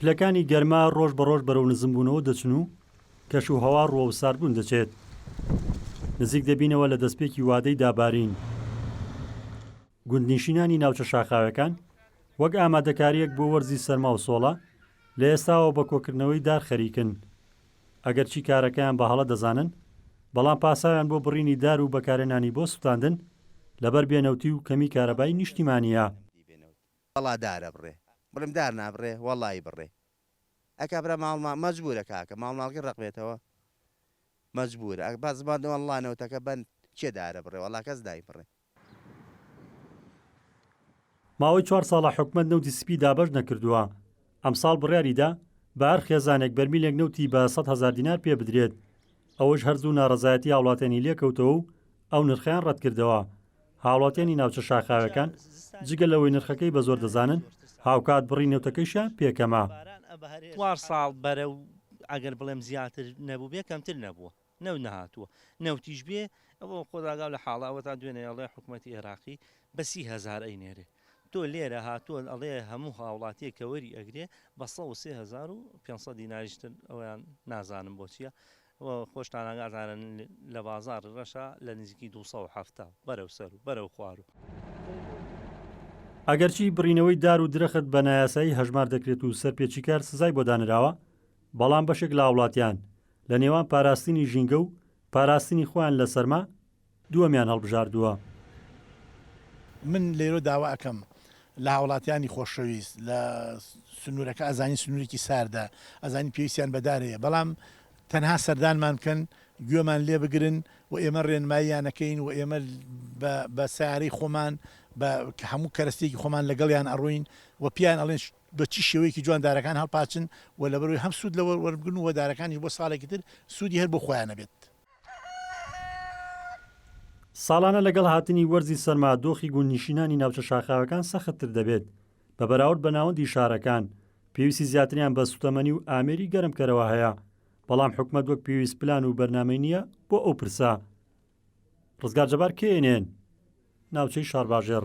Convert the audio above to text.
پلەکانی گەرما ڕۆژ بە ڕۆژ بەرەو نزمبوونەوە دەچن و کەش و هەوا ڕووە و ساردبوون دەچێت. نزیک دەبینەوە لە دەستپێکی وادەی دابارین. گوندنیشینانی ناوچە شاخاوەکان وەک ئامادەکارییەک بۆ وەرزی سەرما و سۆڵە، لە ئێستاوە بە کۆکردنەوەی دار خەریکن. ئەگەرچی کارەکەیان بە هەڵە دەزانن، بەڵام پاساویان بۆ بڕینی دار و بەکارهێنانی بۆ سوتاندن لەبەر بێ نەوتی و کەمی کارەبای نیشتیمانیە. وەڵا دار ئەبڕێ بڵێم دار نابڕێ وەڵایی بڕێ ئەکا برا ماڵ ماڵ مەجبورە کاکە ماڵ ماڵکی ڕەقبێتەوە مەجبورە ئەک بەس بەند وەڵا نەوتەکە بەند کێ دارە بڕێ وەڵا کەس نایبڕێ. ماوەی چوار ساڵە حکومەت نەوتی سپی دابەش نەکردووە، ئەمساڵ بڕیاریدا بە هەر خێزانێک بەرمیلێک نەوتی بە سەد هەزار دینار پێ بدرێت، ئەوەش هەر زوو ناڕەزایەتی هاوڵاتیانی لێکەوتەوە و ئەو نرخەیان ڕەتکردەوە. هاوڵاتیانی ناوچە شاخاوەکان جگە لەوەی نرخەکەی بە زۆر دەزانن، هاوکات بڕی نەوتەکەیشیان پێ کەمە. نەوت نەهاتووە نەوتیش بێ ئەوە خۆداگاو لە حاڵە ئەوەتا دوێنێ ئەڵێ حکومەتی ئێراقی بە سی هەزار ئەینێرێ تۆ لێرە هاتووە ئەڵێ هەموو هاوڵاتیەک کە وەری ئەگرێ بە سەد و سێ هەزار و پێنج سەد دیناریش تر ئەویان نازانم بۆ چیە و خۆشتان ئاگاتانە لە بازاڕی ڕەشا لە نزیکی دوو سەد و حەفتا بەرەو سەر و بەرەو خوار و ئەگەرچی بڕینەوەی دار و درەخت بە نایاسایی هەژمار دەکرێت و سەرپێچیکار سزای بۆ دانراوە بەڵام بەشێک لە هاوڵاتیان لە نێوان پاراستنی ژینگە و پاراستنی خۆیان لە سەرما، دووەمیان هەڵبژاردووە. من لەیرۆ داوا ئەکەم لە هاوڵاتیانی خۆشەویست لە سنورەکە ئەزانین سنورێکی ساردە ئەزانین پێویستیان بە دار هەیە بەڵام تەنها سەردانمان بکەن گوێمان لێ بگرن و ئێمە رێنماییان ئەکەین و ئێمە بە بە سەیارەی خۆمان بە هەموو کەرەستەیەکی خۆمان لەگەڵیان ئەڕۆین و پێیان ئەڵێن بە چ شێوەیەکی جوان دارەکان هەڵپاچن و لەبەرئەوەی هەم سوود لەوە وەربگرن و دارەکانیش بۆ ساڵێکی تر سوودی هەر بۆ خۆیانە بێت. ساڵانە لەگەڵ هاتنی وەرزی سەرما دۆخی گوندنیشینانی ناوچە شاخاوەکان سەختتر دەبێت، بە بەراورد بە ناوەندی شارەکان، پێویستی زیاتریان بە سوتەمەنی و ئامێری گەرمکەرەوە هەیە، بەڵام حکومەت وەک پێویست پلان و بەرنامەی نییە بۆ ئەو پرسە. ڕزگار جەبار، knn، ناوچەی شارباژێڕ.